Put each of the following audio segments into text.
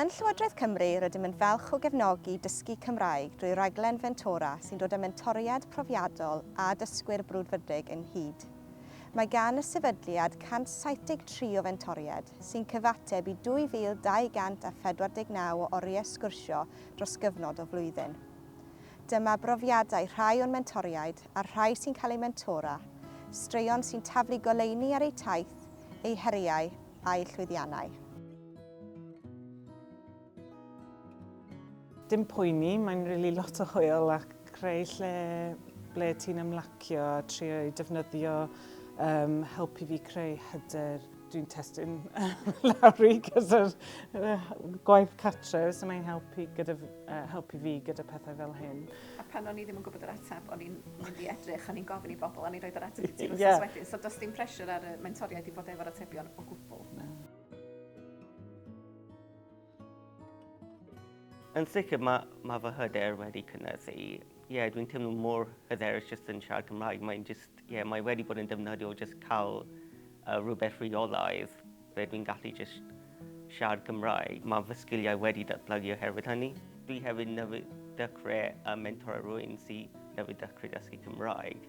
Yn Llywodraeth Cymru rydym yn falch o gefnogi dysgu Cymraeg drwy raglen Fentora sy'n dod â mentoriad profiadol a dysgwyr brwdfrydig ynghyd. Mae gan y sefydliad 173 o fentoriaid, sy'n cyfateb i 2,249 o oriau sgwrsio dros gyfnod o flwyddyn. Dyma brofiadau rhai o'n mentoriaid a'r rhai sy'n cael eu mentora, straeon sy'n taflu goleuni ar eu taith, eu heriau, a'u llwyddiannau. Dim poeni, mae'n rili lot o hwyl a creu lle ble ti'n ymlacio a trio ei defnyddio um, helpu fi creu hyder. Dwi'n testyn lawr i gyda'r gwaith cartref, so mae'n helpu, gyda, uh, helpu fi gyda pethau fel hyn. A pan o'n i ddim yn gwybod yr ateb o'n i'n mynd i edrych, o'n i'n gofyn i bobl, o'n i'n rhoi'r ateb i ti wrth yeah. wedyn. So does dim pressure ar y mentoriaid i bod efo'r atebion o gwbl. Na. Yn sicr, mae, mae fy hyder wedi cynnydd i. Ie, yeah, dwi'n teimlo mor hyderus jyst yn siarad Cymraeg. Mae'n just, ie, yeah, mae wedi bod yn defnyddiol jyst cael uh, rhywbeth rheolaidd Rydw i'n gallu jyst siarad Cymraeg. Mae fy sgiliau wedi datblygu oherwydd hynny. Dwi hefyd newydd dechrau ym mentora rhywun sy newydd dechrau dysgu Cymraeg,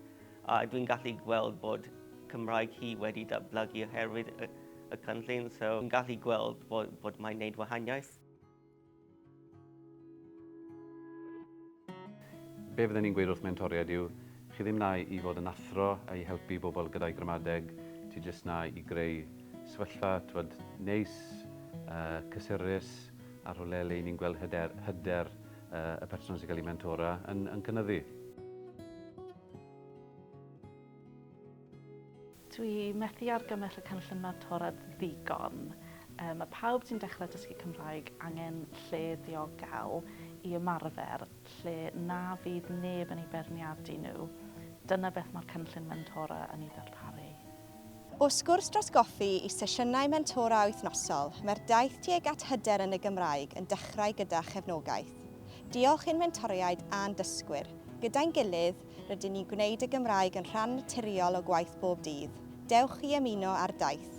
a dwi'n gallu gweld bod Cymraeg hi wedi datblygu oherwydd y cynllun, so fi'n gallu gweld bod mae'n gwneud wahaniaeth. Be fydden i'n gweud wrth mentoriaid yw, chi ddim na i fod yn athro a i helpu bobl gyda'u gramadeg, ti jyst na i greu sefyllfa t'wod neis, yy cysurus a rhywle le 'yn ni'n gweld hyder hyder yy y person sy'n cael ei mentora yn yn cynyddu. Dwi methu argymell y cynllun mentorad ddigon. Mae pawb sy'n dechrau dysgu Cymraeg angen lle diogel i ymarfer, lle na fydd neb yn eu beirniadu nhw. Dyna beth mae'r cynllun mentora yn ei ddarparu. O sgwrs dros goffi i sesiynau mentora wythnosol, mae'r daith tuag at hyder yn y Gymraeg yn dechrau gyda chefnogaeth. Diolch i'n mentoriaid a'n dysgwyr, gyda'n gilydd, Rydyn ni'n gwneud y Gymraeg yn rhan naturiol o gwaith bob dydd. Dewch i ymuno â'r daith!